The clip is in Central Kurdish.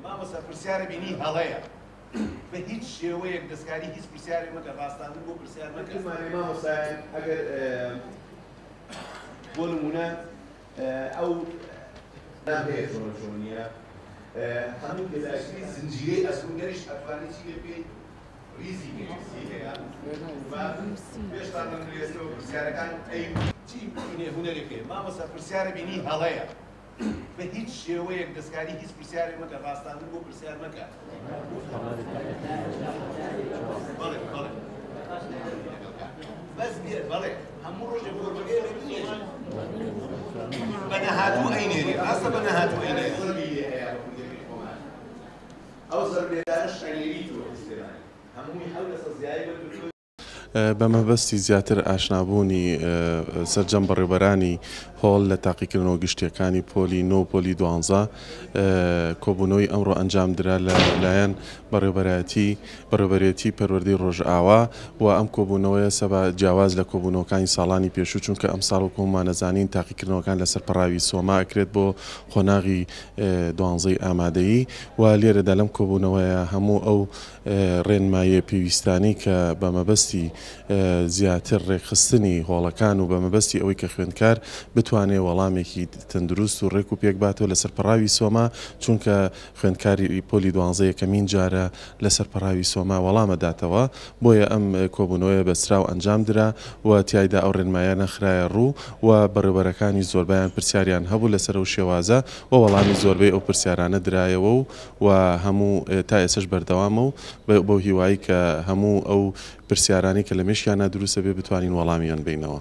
مامۆستا پرسیارە بینی هەڵەیە بە هیچ شێوەیەک دەستکاری هیچ پرسیارێک مەکە ڕاستانە بۆ پرسیار مەکە مامۆستا مامۆستا ئەگەر بۆ نمونە ئەو نامەیە چۆنە چۆن نییە هەموو گەزاکری زنجیرەی ئەسکوندەریش ئەتوانی چی لێ بکەیت ریزی پێویستی هەیە پێشتا من درێسەوە پرسیارەکان ئەی چی هونەرێک هەیە مامۆستا پرسیارە بینی هەڵەیە بە هیچ شێوەیەک دەستکاری هیچ پرسیارێک مەکە، ڕاستاندن بۆ پرسیار مەکە. بەڵێ بەڵێ. بەس بێ بەڵێ هەموو ڕۆژێک فۆرمەکەی ئەوێ بنێری. بە نەهاتوو ئەینێری، ڕاستە بە نەهاتوو ئەینێری. ئەو زەربێدانە شەنێری تۆ ئیسلێمانی هەمووی حەو لەسە زیایە بە بە مەبەستی زیاتر ئاشنابوونی سەرجەم بەڕێوبەرانی هۆڵ لە تاقیکردنەوە گشتییەکانی پۆلی نۆ و پۆلی دوانزە کۆبوونەوەی ئەمڕۆ ئەنجامدرا لە لایەن بەڕێوبەرایەتی بەڕێوبەرێتی پەروەردەی ڕۆژئاوا و ئەم کۆبوونەوەیە سەبا جیاواز لە کۆبوونەوەکانی ساڵانی پێشوو چونکە ئەمساڵ وەک هەموومان ئەزانین تاقیکردنەوەکان لەسەر پەڕاوی سۆما ئەکرێت بۆ قۆناغی دوانزەی ئامادەیی و لێرەدا لەم کۆبوونەوەیە هەموو ئەو ڕێنماییە پێویستانەی کە بە مەبەستی زیاتر ڕێکخستنی هۆڵەکان و بە مەبەستی ئەوەی کە خوێندکار بتوانێ وەڵامێکی تەندروست و ڕێک و پێک باتەوە لەسەر پەڕاوی سۆما چونکە خوێندکاری پۆلی دوانزە یەکەمین جارە لەسەر پەڕاوی سۆما وەڵام ئەداتەوە بۆیە ئەم کۆبوونەوەیە بەستراو ئەنجام درا و تیایدا ئەو ڕێنماییانە خرایە ڕوو و بەڕێوەبەرەکانی زۆربەیان پرسیاریان هەبوو لەسەر ئەو شێوازە و وەڵامی زۆربەی ئەو پرسیارانە درایەوە و و هەموو تا ئێسەش بەردەوامە و بەو هیوای کە هەموو ئەو پرسیارانەی کە لە مێشکیان نادرووسە بێ بتوانین وەڵامیان بینەوە.